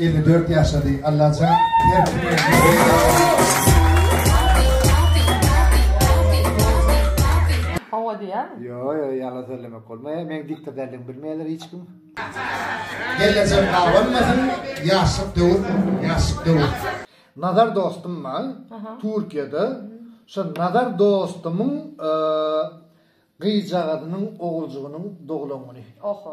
Elli dört ýaşady Allajan her kime Hawa diýýäň? Ýo ýo ýalan sözlemek bolmaýa meň diktatorlygymy bilmeýärler hiç kim. Gelejek gabanmasyn ýaşlyk döwür ýaşlyk döwür. Nazar dostum bar Türkiýede şo Nazar dostumyň gyzjagazynyň oguljygynyň doglan güni. Oho.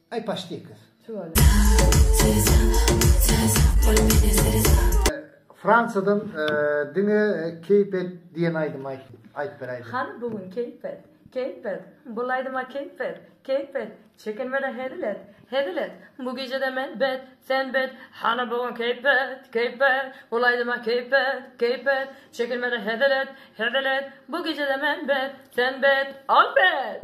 Aý paşdek gyz. Fransiýadan diňe keýp et diýen aýdymy aýt aýt bir aýdym. Hany bu gün keýp et, keýp et, bul aýdyma keýp et, keýp et, çekinmeden hezil et, hezil et, bu gijede men bet, sen bet, hany bu gün keýp et, keýp et, bul aýdyma keýp et, keýp et, çekinmeden hezil et, hezil et, bu gijede men bet, sen bet, al bet!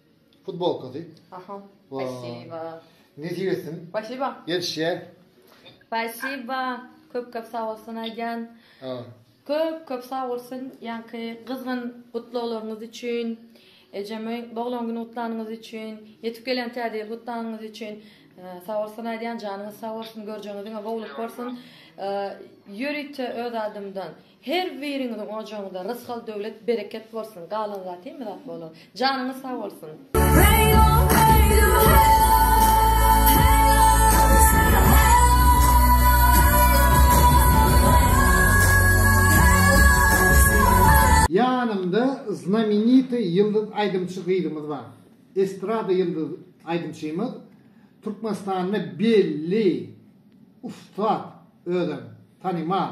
Futbolkasy. Aha. Spasiba. Nesip etsin. Spasiba. Ýetişýä. Spasiba. Köp köp sag bolsun Aýjan. Köp köp sag bolsun ýaňky gyzgyn gutlaglaryňyz üçin. Ejeme doglan güni gutlanyňyz üçin, ýetip gelen täze ýyl gutlanyňyz üçin. Sag bolsun Aýjan janyňyz sag bolsun, görjeňiz diňe gowulyk bolsun. Ýörite öz adymdan Her biriňiziň ojagyňyzda rysgal döwlet bereket bolsun galan zat hemme zat bolar janyňyz sag bolsun. Ýanymda znamenitoý ýyldyz aýdymçy gyzymyz bar. Estrada ýyldyz aýdymçymyz. Türkmenistanda belli ussat özem tanymal.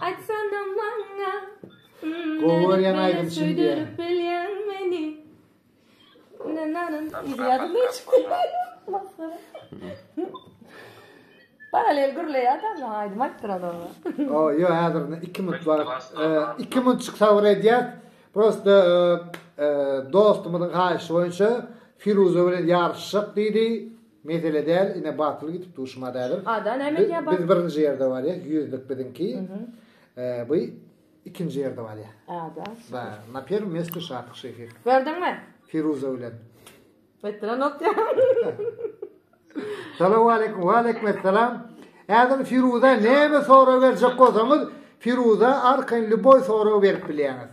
Aýtsana maňa Gowy görýän aýdym şum diýýän meni Paralel gürleýär da maňa aýdym aýtdyr adama. O, ýo häzir 2 minut wagt. 2 minut çyk sabr edýäs. Prosta dostumyzyň haýyşy boýunça Firuza bilen ýaryşjak diýdi. Mesele däl ine batyl gidip dur şumat ädim. Ada näme edýä batyl. Biz birinji ýerde barýas ýüzlik biziňki. Bu ikinji ýerde barýa. Ada. Da na perm mesty şatyk şehi. Gördüňmi? Firuza bilen. Etdiren otýa. Salam aleyküm. Wa aleyküm esselam. Ädim Firuza näme sorag berjek bolsaňyz Firuza arkaýyn lýuboý sorag berip bilýäňiz.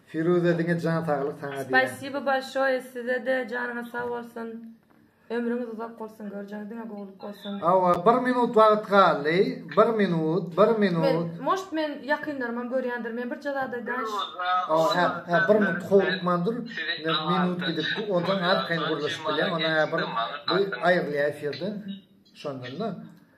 Firuza diňe jan saglyk saňa diýen. Spasibo bolşoýe sizede janyňyz sag bolsun ömrüňiz uzak bolsun görjeňiz diňe gowulyk bolsun. Hawa bir minut wagt galdy bir minut bir minut. Moşt men ýakynlarymam görýändir men birje zat aýdaýyn. Hawa hä bir minut howlukman dur men minut gidipdi ondan arkaýyn gürleşip bilýän ondan hä bir aýrylýa efirden şondanda.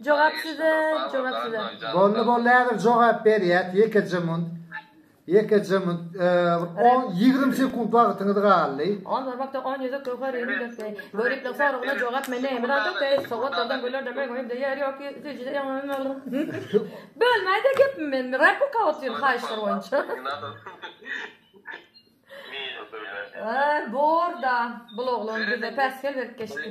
Jogap size jogap size. Boldy boldy häzir jogap berýäs ýekeje munt ýekeje munt on ýigrimi sekunt wagtyňyz galdy. Ol wagtda on ýüzük göwher ýüzüni dökdi. Göriplik soragyna jogap mende ýeme zat ýok eý sowatlardan gülerde meň öýümde ýer ýok süýjide ýaňy bölmäýde gepimi men replika otyryn haýyşlar boýunça. Bor da bul oglan bize päsgel berip geçdi.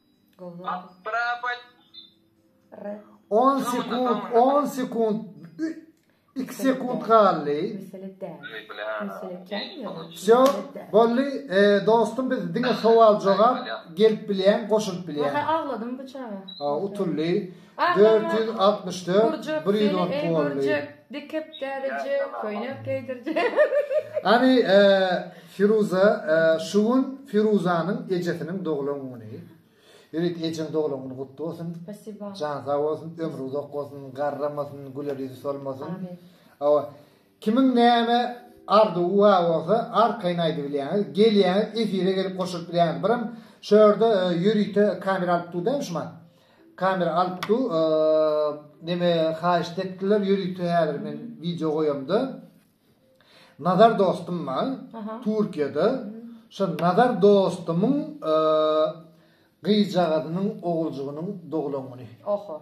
On sekunt, on sekunt, iki sekunt galdy. Wsýo, boldy, dostum biz diňe sowal-jogap gelip bilýän, goşulyp bilýän. Agladym bu çaga. Utuldy. Dört ýüz altmyş dört, Gurjak bir ýüz on seni ey golly. gurjak, dikip därijek, köýnek geýdirjek. Hany e, Firuza, e, şu gün Firuzanyň ejesiniň doglan güni. Ýörit ejeň doglan güni gutly bolsun. Spasiba. Jan sag bolsun, ömri uzak bolsun, garramasyn, güler ýüzi solmasyn. Amin. Awa, Kimiň näme arzuwy bar bolsa arkaýyn aýdybilýäňiz, gelýäňiz efire gelip goşulyp bilýäňiz. Birim şu ýerde ýörite kamera alyp dur dämi şu man. Kamera alyp dur. Neme haýyşt etdiler ýörite häzir men wideo goýamda. Nazar dostum bar. Türkiýede. Şu Nazar dostumyň gyzjagazynyň oguljygynyň doglan güni. Oho.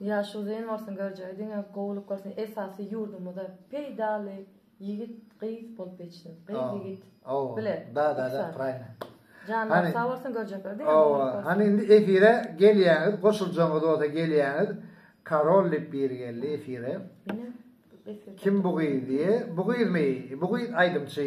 Ýaşy uzyn bolsun görjegi diňe gowulyk bolsun esasy ýurdumyza peýdaly ýigit gyz bolup ýetişsin gyz ýigit bile janlary sag bolsun görjekleri diňe gowulyk bolsun owa hany indi efire gelýäňiz goşuljaňyz bolsa gelýäňiz karol diýip biri geldi efire kim bu gyz diýe bu gyzmy bu gyz aýdymçy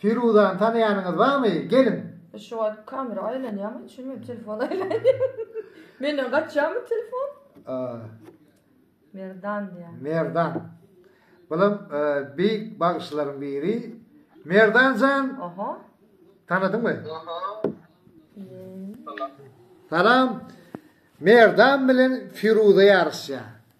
Firuzany tanaýanyňyz barmy? Geliň! E şu wagt kamera aýlanýarmy? Düşünmedim, telefon aýlanýar. Menden gaçýarmy telefon? A. Merdan diýýär. Merdan. Bulam e, beýik bagşylaryň biri. Merdan jan, Oho. tanadyňmy? Salam. Merdan bilen Firuza ýaryşýar.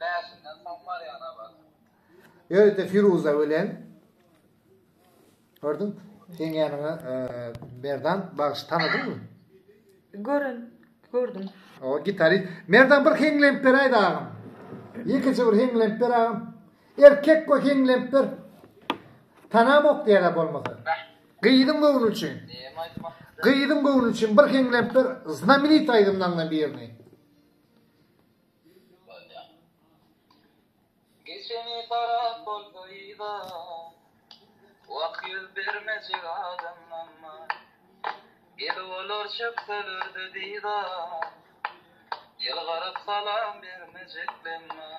Bäşinden soň barýan abat. Öýdýä Firuza bilen Gördüň? Seň ýanyňa Merdan bagşy tanadyňmy? Gören, gördüm. O gitari. Merdan bir heňlenip ber aýda agam. Ýekeje bir heňlenip ber agam. Erkek go heňlenip ber. Tanamok diýerä bolmasa. Gyzyň göwni üçin. Gyzyň göwni üçin bir heňlenip ber. Znamenit aýdymlaryňdan birini. Geçeni harap bolsa yza Wah ýüz bermejek adam namma Gelip olar çökselerde dyza Ýylgyryp salam bermejek lemma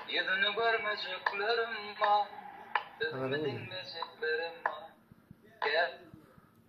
Ýüzüni görmejekler emma Sözümi diňlejekler emma Gel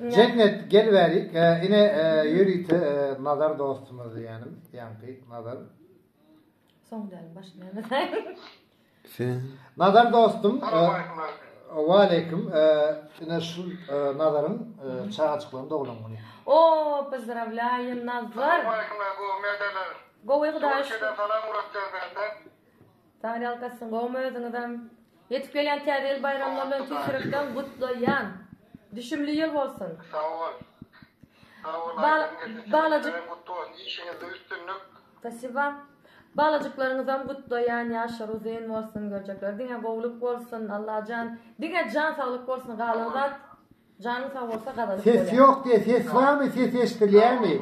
Jennet gel bäri ine ýörite Nazar dostumyz ýanym ýaňky Nazar. Soň däl başy näme saýyn. Nazar dostum Waleýkim ine şul Nazaryň çagajyklaryny doglan güni. O pozdravlaýyn Nazar. Gowy hudaýa şükür. Sag ýalkasyn gowmy özüňizem. Ýetip gelýän täze ýyl baýramlar bilen tüýs ýürekden gutlaýan. Düşümli ýyl bolsun. Sag bol. Sag bol Aýdym geldi. Balajyk. Gutly bolsun. Işiňizde üstünlik. Spasiba. Balajyklaryňyzam gutlaýan. Ýaşlary uzyn bolsun. Göljekleri diňe gowluk bolsun. Allajan. Diňe jan saglyk bolsun. Galan zat janyň sag bolsa gazanyp bolýar. Ses ýok diýe ses barmy ses eşdilýämi.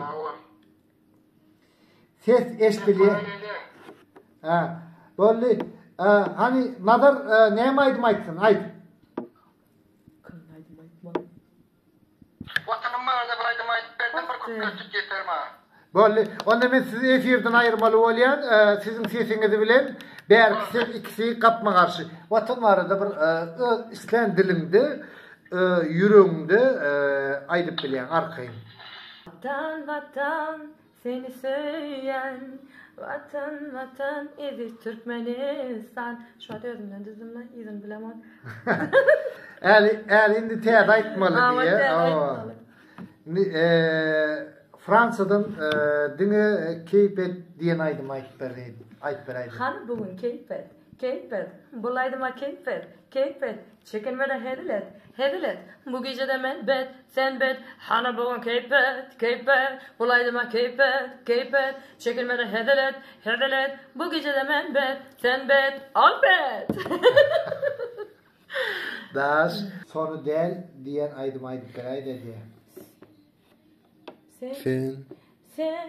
Ses eşdilýär. Ha, boldy. Hany Nazar näme aýdym aýtsyn? Aýt. Watanym barada bir aýdym aýdyp berdim, bir köp köşük ýeter maňa. Boldy. Onda men sizi efirden aýyrmaly bolýan. Siziň sesiňiz bilen bärki ses ikisi gapma-garşy. Watan barada bir öz islän diliňde Öz ýüregiňde aýdyp bilýäň arkaýyn. Watan watan seni söýýän Watan watan eziz Türkmenistan Şo özümden düzdüm la yzyny bilemok. Äli äli indi täze aýtmaly diýýär. Indi Fransiýadan diňe Keýpet diýen aýdymy aýdyp berýin. Aýdyp beräýdim. Hany bu gün Keýpet. Keýpet. Bu aýdyma Keýpet. Keýpet. Çeken welin hezil et, hezil et, Bu gijede men bet, sen bet, Hana bu gün keýp et, keýp et, Bul aýdyma keýp et, keýp et, Çeken welin hezil et, hezil et, Bu gijede men bet, sen bet, Ol bet! Daş. Sony däl diýen aýdymy aýdyp beräýdä diýýä. Sen. Sen. Sen.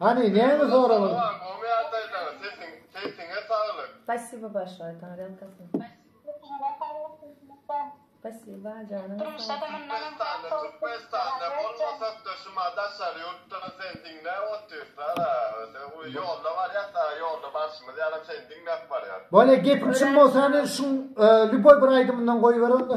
Hany näme soragyň? Spasibo başga aýtana gelkasyn. Spasiba janyň sag. Bolýa gepiň çyn bolsa indi şuň lýuboý bir aýdymyndan goýber onda.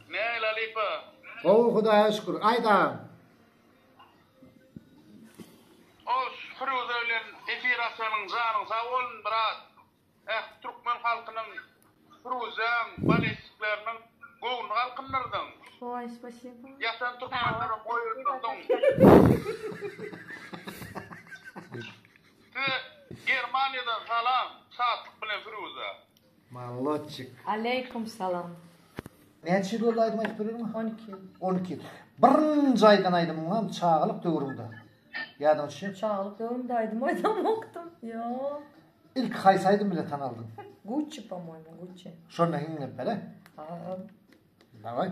Nähili halypa? Gowy Hudaýa şükür. Aýt agam. Os Firuze bilen efir açanyň janyň sag bolsun brat. Ähli türkmen halkynyň Firuzeň balestikleriniň göwnüni galkyndyrdyň. Oý spasibo. Ýatan türkmenlere boýundyrdyň. Size Germaniýadan salam Şatlyk bilen Firuze. Mallotçik. Aleýkum salam. Näçe ýyl boldy aýdym aýdyp bilermi? On iki ýyl. On iki ýyl. Birinji aýdan aýdymyňam çagalyk döwrüňde. Ýadyňa düşýärmi? Çagalyk döwrümde aýdym aýdamokdym. Ýok. Ilki haýsy aýdym bilen tanaldyň? Gucci pomoýmy, Gucci. Şonda hiňňirpele. Aaa. Daway.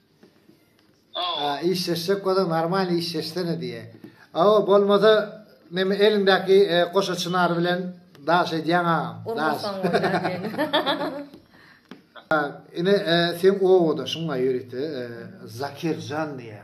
Aw. Işleşjek bolsaň normalny işleşsene diýýä. Aw bolmasa neme eliňdäki goşa çynar bilen daş edýäň agam. Urmasaň bolýar diýeni. Ine seň obadaşyň aýuryty Zakirjan diýýä.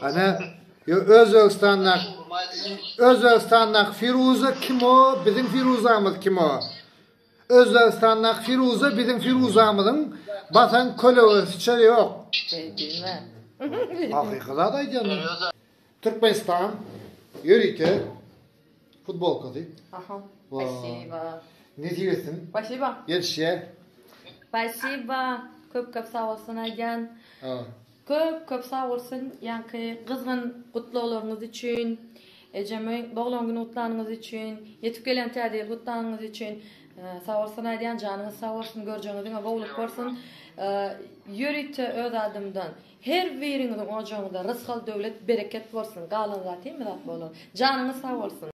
Ana yo Özbegistandak Özbegistandak Firuza kim o biziň Firuzamyz kim o Özbegistandak Firuza biziň Firuzamyzyň basan kölegesiçe yok. Hakyky zat aýdýan. Türkmenistan ýörite Futbolkasy. Aha. Spasiba. Nesip etsin. Spasiba. Gelişýär. Spasiba. Köp köp sag bolsun Aýjan. Köp köp sag bolsun ýaňky gyzgyn gutlaglaryňyz üçin. Ejeme doglan güni gutlanyňyz üçin, ýetip gelen täze ýyl gutlanyňyz üçin. Sag bolsun Aýjan janyňyz sag bolsun, görjeňiz diňe gowluk bolsun. Ýörite öz adymdan Her biriňiziň ojagyňyzda rysgal döwlet bereket bolsun galan zat hemme zat bolar janyňyz sag bolsun.